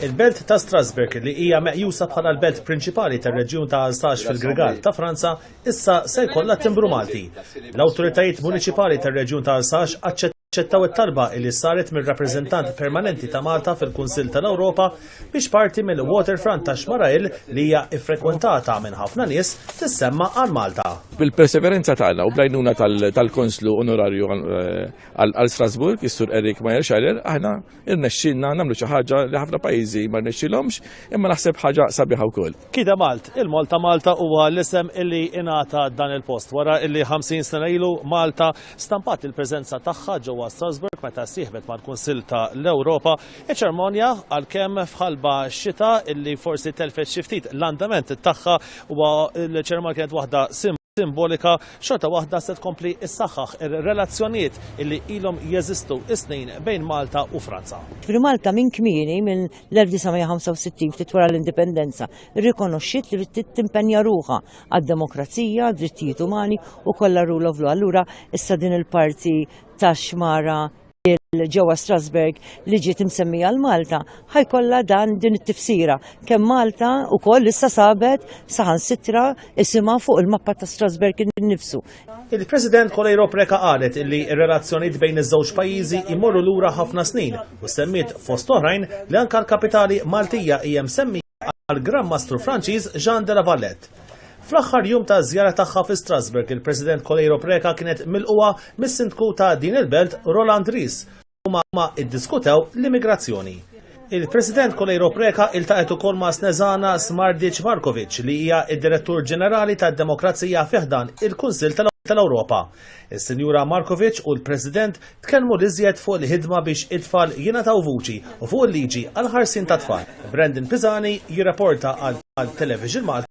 Il-belt ta' Strasburg li hija meqjusa bħala l-belt prinċipali tar-reġjun ta' Alsax fil-Grigal ta' Franza issa se jkollha timbru Malti. L-awtoritajiet municipali tar-reġjun ta' Alsax aċċettaw it-talba li saret mir-rappreżentant permanenti ta' Malta fil-Kunsill tal-Ewropa biex parti mill-waterfront ta' Xmarail li hija ffrekwentata minn ħafna nies tissemma għal Malta. Bil-perseverenza tagħna u blajnuna tal-Konslu Onorarju eh, Qal għal Strasbourg, is-Sur Eric Majerscheiler, aħna irnexxilna nagħmlu xi ħaġa li ħafna pajjiżi ma rnexxilhomx, imma naħseb ħaġa sabiħa wkoll. Kida Malt, il-Mall ta' Malta huwa l-isem illi ingħata dan il-post wara illi 50 sena ilu Malta stampat il-preżenza tagħha ġewwa Strasbourg meta ssieħbet mal-Kunsill ta' l-Ewropa. Iċ-ċermonja għalkemm f'ħalba xita illi forsi telfet xi ftit l-andament tagħha huwa l-ċermonja kienet waħda simbolika xorta waħda se tkompli ssaħħaħ ir-relazzjonijiet illi ilhom jeżistu s-snin bejn Malta u Franza. Ġifieri Malta minn kmieni minn l-1965 ftit wara l-indipendenza rrikonoxxiet li trid timpenja ruħha għad-demokrazija, drittijiet umani u kollha rule of law. Allura issa din il-parti tax-xmara ġewwa Strasberg li ġiet imsemmija l Malta ħajkollha dan din it-tifsira kemm Malta wkoll issa sabet saħansitra isimha fuq il-mappa ta' Strasberg innifsu. Il-President Kolejro Preka qalet li r-relazzjonijiet bejn iż-żewġ pajjiżi jmorru lura ħafna snin u semmiet fost oħrajn li anke l-kapitali Maltija hija msemmija għal Gran Mastru Franċiż Jean de la Valette. Fl-aħħar jum ta' żjara tagħha fi Strasburg, il-President Kolejro Preca kienet milquha mis-Sindku ta' din il-belt Roland Ries u ma iddiskutew l-immigrazzjoni. Il-President Kolejro Preca iltaqet ukoll ma' Snezana Smardic Markovic li hija id-Direttur Ġenerali tad-Demokrazija fiħdan il-Kunsill tal-Ewropa. Is-Sinjura Markovic u l-President tkellmu l-iżjed fuq il-ħidma biex it-tfal jingħataw vuċi u fuq il-liġi għal ħarsien tat-tfal. Brandon Pisani jirraporta għal Television Malta.